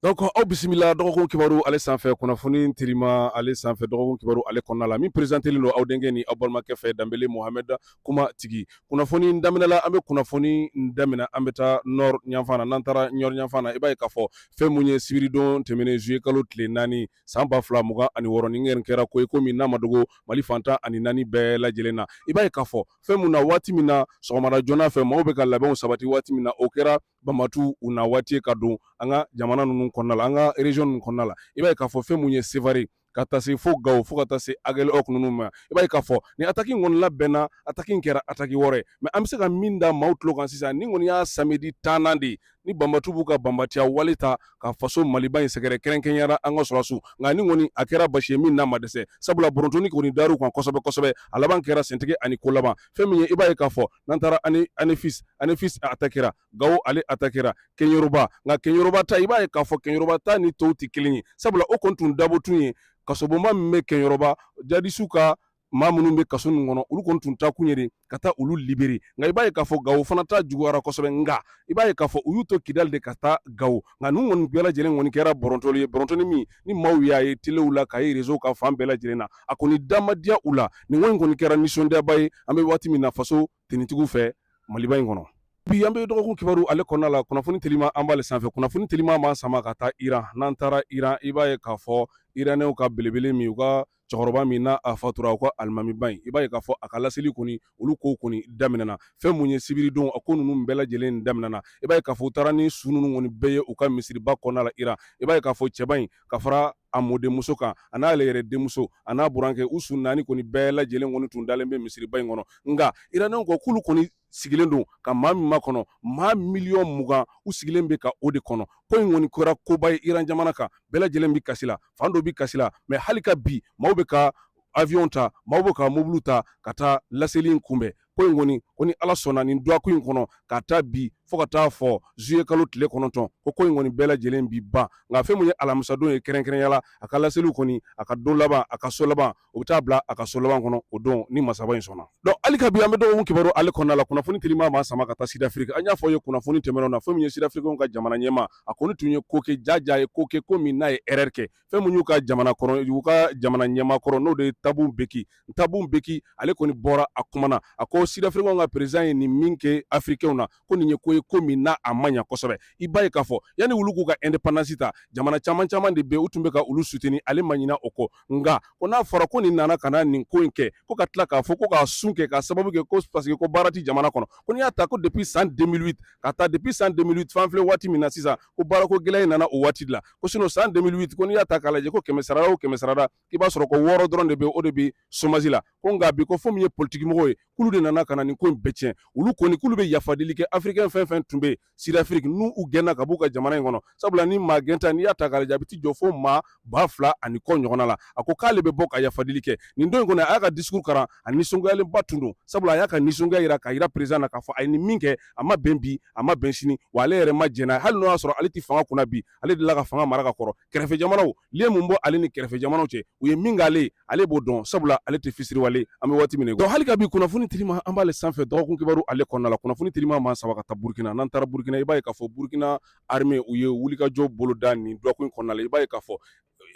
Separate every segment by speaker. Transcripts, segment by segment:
Speaker 1: Donc aw bisimila bisimila dɔgɔkun kibaru ale sanfɛ kunnafoni telima ale sanfɛ dɔgɔkun kibaru ale kɔnɔna la min perezantelen don aw denkɛ ni aw balimakɛ fɛ da muhamɛda kuma tigi kunnafoni daminɛla an bɛ kunnafoni daminɛ an bɛ taa nɔrɔfan n'an taara nɔrɔfan i b'a ye k'a fɔ fɛn minnu ye sibiridon tɛmɛnen zuye kalo tile naani san ba fila mugan ani wɔɔrɔ nin kɛra ko ye ko min n'a ma dogo mali fan tan ani naani bɛɛ lajɛ lajɛlen na i b'a ye k'a fɔ fɛn min na waati min na sɔgɔma joona fɛ maaw bɛ ka labɛn sabati waati min na o kɛra banbatu u na waati ka don an ka jamana ninnu kɔnɔna la an ka region ninnu kɔnɔna la i b'a ye k'a fɔ fɛn mun ye sevare ka taa se fo gawo fo ka taa se agɛlɔki ninnu ma i b'a ye k'a fɔ ni ataki kɔni labɛnna ataki kɛra ataki wɔɔrɔ ye min an bɛ se ka min da maaw tulo kan sisan nin kɔni y'a samedi tannan de ye ni banbatu b'u ka banbatiya wale ta ka faso maliba in sɛgɛrɛ kɛrɛnkɛrɛnya la an ka sɔrɔsiw nka nin kɔni a kɛra basi ye min n'a ma dɛsɛ sabula bɔrɔntɔli kɔni dar'u kan kosɛbɛ kosɛbɛ a laban kɛra sentigi ani ko laban fɛn min ye i b'a ye k'a fɔ n'an taara ani anefisi anefisi a ta kɛra gawo ale a ta kɛra kɛnyɔrɔba nka kɛnyɔrɔba ta i b'a ye k'a fɔ kɛnyɔrɔba ta ni tɔw tɛ kelen ye sabula o kɔni tun dabɔ kun ye kasobonba min bɛ kɛnyɔrɔba jadisiw ka maa minnu bɛ kaso ninnu kɔnɔ olu kɔni tun taa kun ye de ka taa olu libere nka i b'a ye k'a fɔ gawo fana ta juguyara kosɛbɛ nka i b'a ye k'a fɔ u y'u to kidali de ka taa gawo nka ninnu kɔni bɛɛ lajɛlen kɔni kɛra bɔrɔntɔli ye bɔrɔntɔli min ni maaw y'a ye telew la k'a ye rezow kan fan bɛɛ lajɛlen na a kɔni da ma diya u la nin ko in kɔni kɛra nisɔndiyaba ye an bɛ waati min na faso tintigiw fɛ maliba in kɔnɔ bi an bɛ dɔgɔkun kibaru ale kɔnɔna la kunnafoni telima an b'ale sanfɛ kunnafoni telima b'an sama ka taa iran n'an taara iran i b'a ye k'a fɔ iranɛw ka belebele min u ka cɛkɔrɔba min n'a a fatura u ka alimamiba in i b'a ye k'a fɔ a ka laseli kɔni olu kow kɔni daminɛna fɛn mun ye sibiridon a ko ninnu bɛɛ lajɛlen daminɛna i b'a ye k'a fɔ u taara ni su ninnu kɔni bɛɛ ye u ka misiriba kɔnɔna la iran i b'a ye k'a fɔ cɛba in ka fara a mɔdenmuso kan an'a yɛrɛ denmuso an'a burankɛ u su naani kɔni bɛɛ lajɛlen kɔni tun dalen bɛ misiriba in kɔnɔ nka iraniw ko k'olu kɔni sigilen don ka maa min makɔnɔ maa miliyɔn mugan u sigilen bɛ ka o de kɔnɔ ko in kɔni kɛra koba ye iran jamana kan bɛɛ lajɛlen bɛ kasi la fan dɔ bɛ kasi la mɛ hali ka bi maaw bɛ ka avion ta maaw bɛ ka mobili ta ka taa laseli in kunbɛn ko in kɔni ko ni ala sɔnna ni dɔgɔkun in kɔnɔ k'a ta bi fo ka taa fo zuye kalo tile kɔnɔntɔn ko ko in kɔni bɛɛ lajɛlen bi ban nka fɛn min ye alamisadon ye kɛrɛnkɛrɛnya la a ka laseliw kɔni a ka don laban a ka so laban o bɛ taa bila a ka so laban kɔnɔ o don ni masaba in sɔnna donc hali ka bi an bɛ dɔgɔkun kibaru ale kɔnɔna la kunnafoni telima b'an sama ka taa sidafiriki an y'a fɔ ye kunnafoni tɛmɛnenw na fɛn min ye sidafirikiw ka jamana ɲɛmaa a kɔni tun ye ko kɛ jaja ye ko kɛ ko min n'a ye ɛrɛri kɛ fɛn min y'u ka jamana kɔnɔ y'u ka jamana ɲɛmaa kɔrɔ n'o de ye tabo mbeki tabo mbeki ale kɔni bɔra a kuma na a ko sidafirikɛw ka peresidan ye nin min kɛ afirikɛw na ko nin ye ko ye ko min n'a a man ɲi kosɛbɛ i b'a ye k'a fɔ yanni olu k'u ka ɛndepandansi ta jamana caman caman de bɛ u tun bɛ ka olu sutini ale ma ɲinɛ o kɔ nka ko n'a fɔra ko nin nana ka na nin ko in kɛ ko ka tila k'a fɔ ko k'a sun kɛ ka sababu kɛ ko parce que ko baara tɛ jamana kɔnɔ ko n'i y'a ta ko depi san deux mille cinq k'a ta depi san deux mille cinq f'an filɛ waati min na sisan ko baarako gɛlɛya in nana o waati la ko sinon san 2008 ko n'i y'a ta k'a lajɛ ko kɛmɛ sarada o kɛmɛ sarada i b'a sɔrɔ ko wɔɔrɔ dɔrɔn de bɛ o de bɛ somasi la ko nka bi ko fɛn min ye politikimɔgɔw ye k'olu de nana ka na nin ko in bɛɛ tiɲɛ olu kɔni k'olu bɛ yafadeli kɛ afirikɛn fɛn o fɛn tun bɛ yen sidafiriki n'u gɛnna ka b'u ka jamana in kɔnɔ sabula ni maa gɛn ta n'i y'a ta k'a lajɛ a bɛ t'i jɔ fo maa ba fila ani kɔ ɲɔgɔnna la a ko k'ale bɛ bɔ ka yafadeli kɛ nin don in kɔnɔ a y'a ka discours karan a nisɔngoyalenba tun don sabula a y'a ka nisɔngoya jira k'a jira président na k'a fɔ a ye nin min kɛ a ma bɛn bi a ma bɛn sini wa ale yɛrɛ ma jɛn n'a hali n'o y'a sɔrɔ ale tɛ fanga kunna bi ale delila ka fanga mara ka kɔrɔ kɛrɛfɛ jamanaw le mun bɔ ale ni kɛrɛfɛ jamanaw cɛ u ye min k'ale ale b'o dɔn sabula ale tɛ fisiriwale an bɛ waati min dɔn hali ka bi kunnafoni telima an b'ale sanfɛ dɔgɔkun kibaru ale kɔnɔna la kunnafoni telima b'an sama ka taa burukina n'an taara burukina i b'a ye k'a fɔ burukina arime u ye wulikajɔ boloda nin dɔgɔkun kɔnɔna la i b'a ye k'a fɔ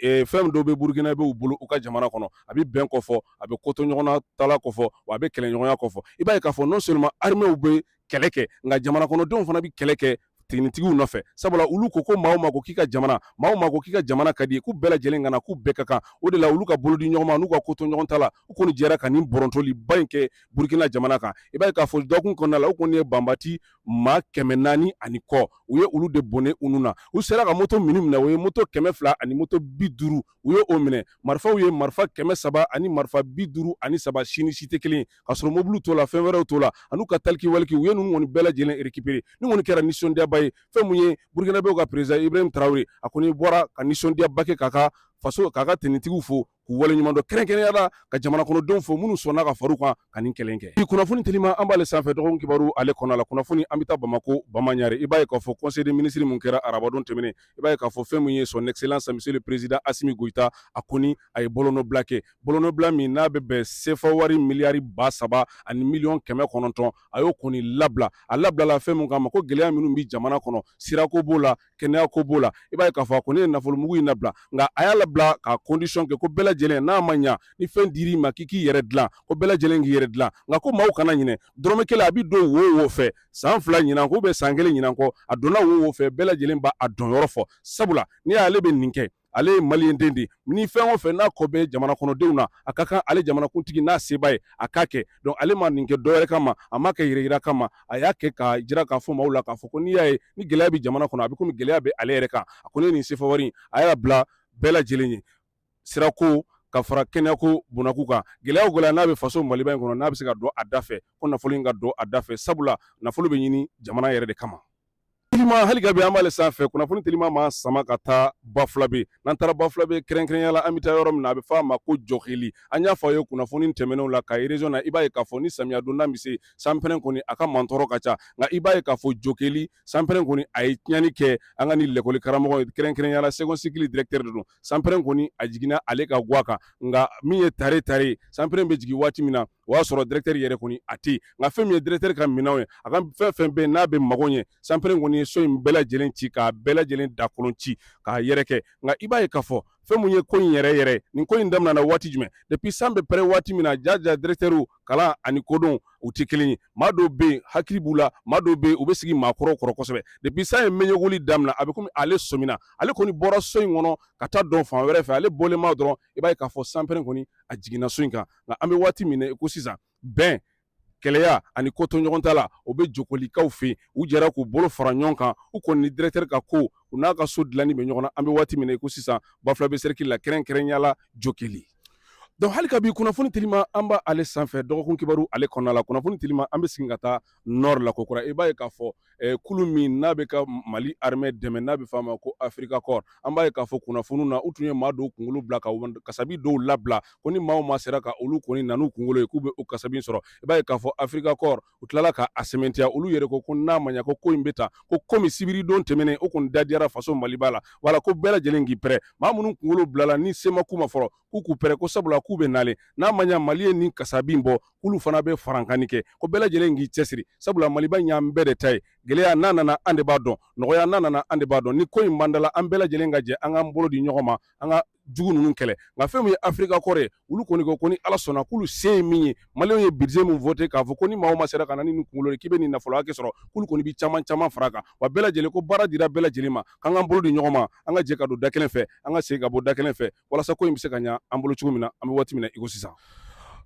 Speaker 1: fɛn dɔ bɛ burukinabew bolo u ka jamana kɔnɔ a bɛ bɛn kofɔ a bɛ kotoɲɔgɔntala kofɔ wa a bɛ kelenya kofɔ i b'a ye k'a fɔ non seulement arimew bɛ kɛlɛ kɛ nka jamana kɔnɔdenw fana bɛ kɛlɛ kɛ tenitigiw nɔfɛ sabula olu ko ko maa ma ko k'i ka jamana maa ma ko k'i ka jamana ka d'i ye k'u bɛɛ lajɛlen ka na k'u bɛɛ ka kan o de la olu ka bolo di ɲɔgɔn ma n'u ka kotoɲɔgɔntala u kɔni jɛra ka nin btɔliba in kɛ burukina jamana kan i b'a ye k'a fɔ dɔgɔkun kɔnɔna la u kɔni ye banbaanci maa kɛmɛ naani ani kɔ u ye olu de bɔnɛ u nin na u sera ka moto minnu minɛ u ye moto kɛmɛ fila ani moto bi duuru u ye o minɛ marifa u ye marifa kɛmɛ saba ani marifa bi duuru ani saba si ni si tɛ kelen ye ka sɔrɔ mobiliw t'o la fɛn wɛrɛw t'o la ani u ka taliki waliki u ye ninnu kɔni bɛɛ lajɛlen rekipere nin kɔni kɛra nisɔndiyaba ye fɛn mun ye burukinabew ka perezidan ibrahim tarawele a kɔni bɔra ka nisɔndiyaba kɛ k'a ka faso k'a ka tenitigiw fo k'u waleɲumandɔn kɛrɛnkɛrɛnya la ka jamana kɔnɔdenw fo minnu sɔnna ka fara u kan ka nin kɛlɛ kɛ. Bi kunnafoni telima an b'ale sanfɛ dɔgɔkun kibaru ale kɔnɔna la kunnafoni an bɛ taa Bamako Bamaɲare i b'a ye k'a fɔ conseil des ministres min kɛra arabadon tɛmɛnen i b'a ye k'a fɔ fɛn min ye son excellence monsieur le président Assimi Goïta a kɔni a ye bolonɔbila kɛ bolonɔbila min n'a bɛ bɛn CFA wari miliyari ba saba ani miliyɔn kɛmɛ kɔnɔntɔn a y'o kɔni labila a labilala fɛn min kama ko gɛlɛya minnu bɛ jamana kɔnɔ sirako b'o la kɛnɛya ko b'o la i b'a ye k'a fɔ a ko ne ye nafolomugu in nabila nka a y'a labila ka kɔndisɔn kɛ ko bɛɛ lajɛlen n'a ma ɲa ni fɛn dir'i ma k'i k'i yɛrɛ dilan ko bɛɛ lajɛlen k'i yɛrɛ dilan nka ko maaw kana ɲinɛ dɔrɔmɛ kelen a bi don wo o wo fɛ san fila ɲinan kɔ ou bien san kelen ɲinan kɔ a donna wo o wo fɛ bɛɛ lajɛlen b'a donyɔrɔ fɔ sabula n'i y'a ye ale bɛ nin kɛ ale ye maliden de ni fɛn o fɛn n'a kɔ bɛ jamana kɔnɔdenw na a ka kan ale jamanakuntigi n'a se b'a ye a k'a kɛ donc ale ma nin kɛ dɔ wɛrɛ kama a ma kɛ yɛrɛyira kama a y'a kɛ ka jira k'a fɔ maaw la k'a fɔ ko n'i y'a ye ni gɛlɛya bɛ jamana kɔnɔ a bɛ komi gɛlɛya bɛ ale yɛrɛ kan a kɔni nin sefa wari a y'a bila bɛɛ lajɛlen ye sirako ka fara kɛnɛyako bɔnnaku kan gɛlɛya o gɛlɛya n'a bɛ faso maliba in kɔnɔ n'a bɛ se ka don a da fɛ ko nafolo in ka don a da fɛ sabula nafolo bɛ ɲini jamana yɛrɛ de kama Teliman hali ka bi an b'ale sanfɛ kunnafoni teliman an b'a sama ka taa bafulabɛ n'an taara bafulabɛ kɛrɛnkɛrɛnya la an bɛ taa yɔrɔ min na a bɛ fɔ a ma ko jokeli an y'a fɔ a ye kunnafoni tɛmɛnenw la kayi rezɔn na i b'a ye k'a fɔ ni samiya donda bɛ se sanpɛrɛn kɔni a ka mantɔɔrɔ ka ca nka i b'a ye k'a fɔ jokeli sanpɛrɛn kɔni a ye tiɲɛni kɛ an ka ni lakɔli karamɔgɔ ye kɛrɛnkɛrɛnya la segɔn sikili dirɛkitɛri de don sanpɛrɛn kɔni a jiginna ale ka gwa kan nka min ye tare tare sanpɛrɛn bɛ jigin waati min na o y'a sɔrɔ dirɛkitɛri yɛrɛ kɔni a tɛ nka fɛn min ye dirɛkitɛri ka minɛnw ye a ka fɛn fɛn bɛ n'a bɛ mago ɲɛ sanpɛrɛn kɔni ye so in bɛɛ lajɛlen ci k'a bɛɛ lajɛlen dakolon ci k'a yɛrɛkɛ nka i b'a ye k'a fɔ fɛn mun ye ko in yɛrɛ yɛrɛ nin ko in daminɛna waati jumɛn depuis san bɛ pɛrɛn waati min na jaja dirɛkitɛriw kalan ani kodɔn u tɛ kelen ye maa dɔw bɛ yen hakili b'u la maa dɔw bɛ yen u bɛ sigi maakɔrɔw kɔrɔ kosɛbɛ depuis san ye mɛɲɛkuli daminɛ a bɛ komi ale sɔmina ale kɔni bɔra so in kɔnɔ ka taa don fan wɛrɛ fɛ ale bɔlen ma dɔrɔn i b'a ye k'a fɔ sanpɛrɛn kɔni a jiginna so in kan nka an bɛ waati min na i ko sisan bɛn kelenya ani ko to ɲɔgɔn ta la o bɛ jokelikaw fɛ yen u jɛra k'u bolo fara ɲɔgɔn kan u kɔni ni dirɛkitɛri ka ko u n'a ka so dilanni bɛ ɲɔgɔn na an bɛ waati min na i ko sisan bafulabɛ sɛrikili la kɛrɛnkɛrɛnya la jokeli Donc hali ka bi kunnafoni telima an b' ale sanfɛ dɔgɔkun kibaru ale kɔnɔna la kunnafoni telima an bɛ segin ka taa nɔri la kokura i b'a ye k'a fɔ kulu min n'a bɛ ka mali arme dɛmɛ n'a bɛ f'a ma ko Africa Corps an b'a ye k'a fɔ kunnafoni na u tun ye maa dɔw kunkolo bila ka kasabi dɔw labila ko ni maa o maa sera ka olu kɔni na n'u kunkolo ye k'u bɛ o kasabi sɔrɔ i b'a ye k'a fɔ Africa Corps u tilala ka a sɛmɛntiya olu yɛrɛ ko ko n'a maɲa ko ko in bɛ ta ko komi sibiridon tɛmɛnen o kɔni da diyara faso maliba la wala ko bɛɛ lajɛlen k'i pɛrɛ maa minnu kunkolo bilala ni se ma k'u ma fɔlɔ k'u k'u pɛrɛ ko sabula k'u bɛ nalen n'a maɲa mali ye nin kasabi bɔ k'olu fana bɛ farankanni kɛ ko bɛɛ lajɛlen k'i cɛsiri sabula maliba in y'an bɛɛ de ta ye gɛlɛya n'a nana an de b'a dɔn nɔgɔya n'a nana an de b'a dɔn ni ko in banda la an bɛɛ lajɛlen ka jɛ an k'an bolo di ɲɔgɔn ma an ka jugu ninnu kɛlɛ nka fɛn min ye Africa Corps ye olu kɔni ko ko ni ala sɔnna k'olu se ye min ye mali ye budget min fɔ ten k'a fɔ ko ni maa o maa sera ka na ni kunkolo k'i bɛ nin nafolo hakɛ sɔrɔ k'olu kɔni bɛ caman caman fara kan wa bɛɛ lajɛlen ko baara dira bɛɛ lajɛlen ma k'an k'an bolo di ɲɔgɔn ma an ka jɛ ka don da kelen fɛ an ka segin ka bɔ da kelen fɛ walasa ko in bɛ se ka ɲa an bolo cogo min na an bɛ waati min na i ko sisan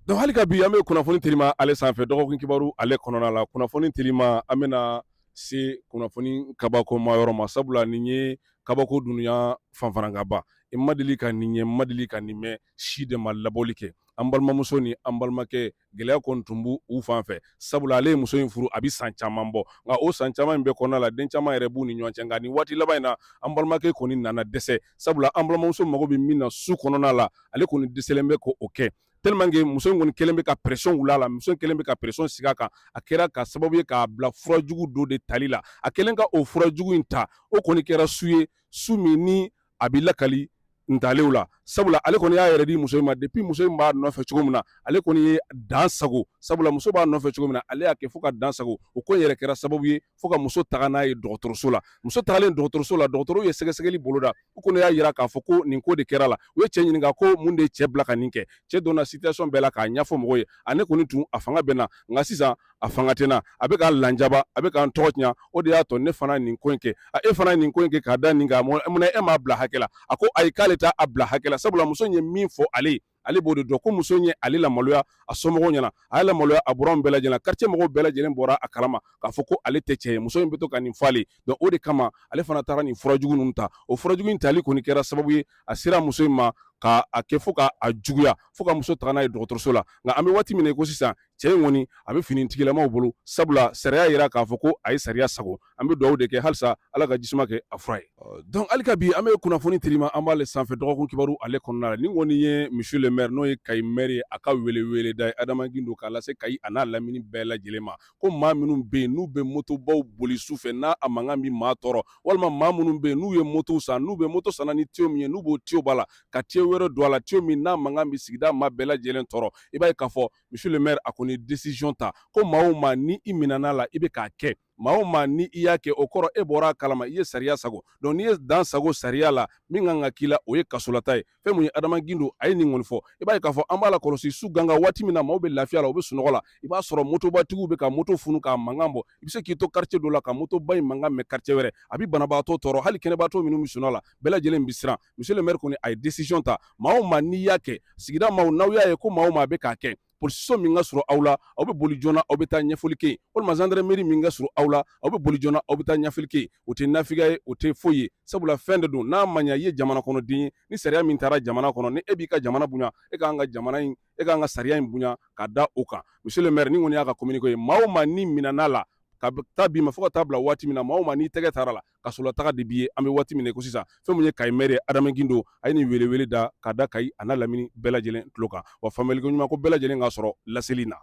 Speaker 1: donc hali ka bi an bɛ kunnafoni telima ale sanfɛ dɔgɔkun kibaru ale kɔnɔna la kunnafoni telima an bɛna se kunnafoni kabakoma yɔrɔ ma sabula nin ye kabako duniya fanfarankaba n ma deli ka nin ye n ma deli ka nin mɛn si de ma laboli kɛ an balimamuso ni an balimakɛ gɛlɛya kɔni tun b'u fan fɛ sabula ale ye muso in furu a bɛ san caman bɔ nka o san caman in bɛɛ kɔnɔna la den caman yɛrɛ b'u ni ɲɔgɔn cɛ nka nin waati laban in na an balimakɛ kɔni nana dɛsɛ sabula an balimamuso mago bɛ min na su kɔnɔna la ale kɔni dɛsɛlen bɛ k'o kɛ tellement que muso in kɔni kelen bɛ ka pression wuli a la muso in kelen bɛ ka pression sigi a kan a kɛra ka sababu ye k'a bila fura jugu dɔ de tali la a kɛlen ka o fura jugu in ta o kɔni kɛra su ye su min ni a bɛ lakali ntalenw la sabula ale kɔni y'a yɛrɛ di muso in ma depuis muso in b'a nɔfɛ cogo min na ale kɔni ye dan sago sabula muso b'a nɔfɛ cogo min na ale y'a kɛ fo ka dan sago o ko in yɛrɛ kɛra sababu ye fo ka muso taga n'a ye dɔgɔtɔrɔso la muso tagalen dɔgɔtɔrɔso la dɔgɔtɔrɔw ye sɛgɛsɛgɛli boloda u kɔni y'a yira k'a fɔ ko nin ko de kɛr'a la u ye cɛ ɲininka ko mun de ye cɛ bila ka nin kɛ cɛ donna situation bɛɛ la k'a ɲɛfɔ mɔgɔw ye a ne kɔni tun a fanga bɛ n na nka sisan a fanga tɛ n na a bɛ ka n lanjaba a bɛ ka n tɔgɔ tiɲa o de y'a to ne fana nin ko in kɛ a e fana nin ko in kɛ k'a da nin kan munna e m'a bila hakɛ la a ko ayi k'ale t'a bila hakɛ la sabula muso in ye min fɔ ale ye ale b'o de dɔn ko muso in ye ale lamaloya a somɔgɔw ɲɛna a y'a lamaloya a buranw bɛɛ lajɛlen na quartier mɔgɔw bɛɛ lajɛlen bɔra a kalama k'a fɔ ko ale tɛ cɛ ye muso in bɛ to ka nin fɔ ale donc o de kama ale fana taara nin fura jugu ninnu ta o fura jugu in tali kɔni kɛra sababu ye a sera muso in ma ka a kɛ fo ka a juguya fo ka muso taga n'a ye dɔgɔtɔrɔso la nka an bɛ waati min na i ko sisan cɛ in kɔni a bɛ finitigilamaw bolo sabula sariya yira k'a fɔ ko a ye sariya sago an bɛ dugawu de kɛ halisa ala ka jisuma kɛ a fura ye donc hali ka bi an bɛ kunnafoni telima an b'ale sanfɛ dɔgɔkun kibaru ale kɔnɔna la nin kɔni ye monsieur le maire n'o ye kayi maire ye a ka weleweleda ye adama gindo k'a lase kayi a n'a lamini bɛɛ lajɛlen ma ko maa minnu bɛ yen n'u bɛ motobaw boli su fɛ n'a mankan bɛ maa tɔɔrɔ walima maa minnu bɛ yen n'u ye motow san n'u bɛ moto sanna ni tiyo min ye n'u b'o tiyo b'a la ka tiyo wɛrɛ don a la tiyo min n'a mankan bɛ sigida maa bɛɛ lajɛlen tɔɔrɔ i b'a ye k'a fɔ monsieur le maire a kɔni décision ta ko maa o maa ni i minɛna la i bɛ k'a kɛ maa o maa ni i y'a kɛ o kɔrɔ e bɔra a kalama i ye sariya sago donc n'i ye dan sago sariya la min kan ka k'i la o ye kasolataa ye fɛn min ye adama gindo a ye nin kɔni fɔ i b'a ye k'a fɔ an b'a lakɔlɔsi su ganga waati min na maaw bɛ lafiya la u bɛ sunɔgɔ la i b'a sɔrɔ motobatigiw bɛ ka moto funu k'a mankan bɔ i bɛ se k'i to quartier dɔ la ka motoba in mankan mɛn quartier wɛrɛ a bɛ banabaatɔ tɔɔrɔ hali kɛnɛbaatɔ minnu bɛ sunɔgɔ la bɛɛ lajɛlen bɛ siran monsieur le maire kɔni a ye décision ta maa o maa n'i y'a kɛ sigida maaw n'aw y'a ye ko maa o maa bɛ k'a kɛ polisiso min ka surun aw la aw bɛ boli joona aw bɛ taa ɲɛfɔli kɛ yen walima zandarameri min ka surun aw la aw bɛ boli joona aw bɛ taa ɲɛfɔli kɛ yen o tɛ nafigiya ye o tɛ foyi ye sabula fɛn de don n'a ma ɲa i ye jamana kɔnɔden ye ni sariya min tara jamana kɔnɔ ni e b'i ka jamana bonya e ka kan ka jamana in e ka kan ka sariya in bonya ka da o kan monsieur le maire nin kɔni y'a ka communiqué ye maa o maa n'i minɛn'a la k'a ta bi ma fo ka taa bila waati min na maa o maa n'i tɛgɛ tar'a la kasolataga de b'i ye an bɛ waati min ko sisan fɛn min ye kayi maire adama gindo a ye nin welewele da ka da kayi a lamini bɛɛ lajɛlen tulo kan wa faamuyali ɲuman ko bɛɛ lajɛlen k'a sɔrɔ laseli na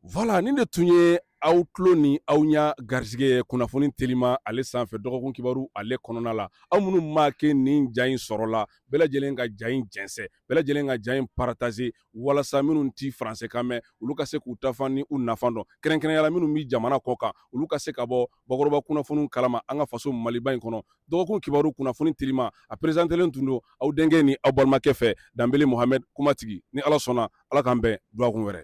Speaker 1: voilà nin de tun ye aw tulo ni aw ɲɛ garisɛgɛ kunnafoni telima ale sanfɛ dɔgɔkun kibaru ale kɔnɔna la aw minnu ma kɛ nin ja in sɔrɔla bɛɛ lajɛlen ka ja in jɛnsɛ bɛɛ lajɛlen ka ja in partager walasa minnu ti faransekan mɛn olu ka se k'u ta fan ni u nafa dɔn kɛrɛnkɛrɛnya la minnu bɛ jamana kɔkan olu ka se ka bɔ bakɔrɔba kunnafoniw kalama an ka faso maliba in kɔnɔ dɔgɔkun kibaru kunnafoni telima a perezantelen tun don aw denkɛ ni aw balimakɛ fɛ danbele mohamɛd kumatigi ni ala sɔnna ala k'an bɛn dɔgɔkun wɛrɛ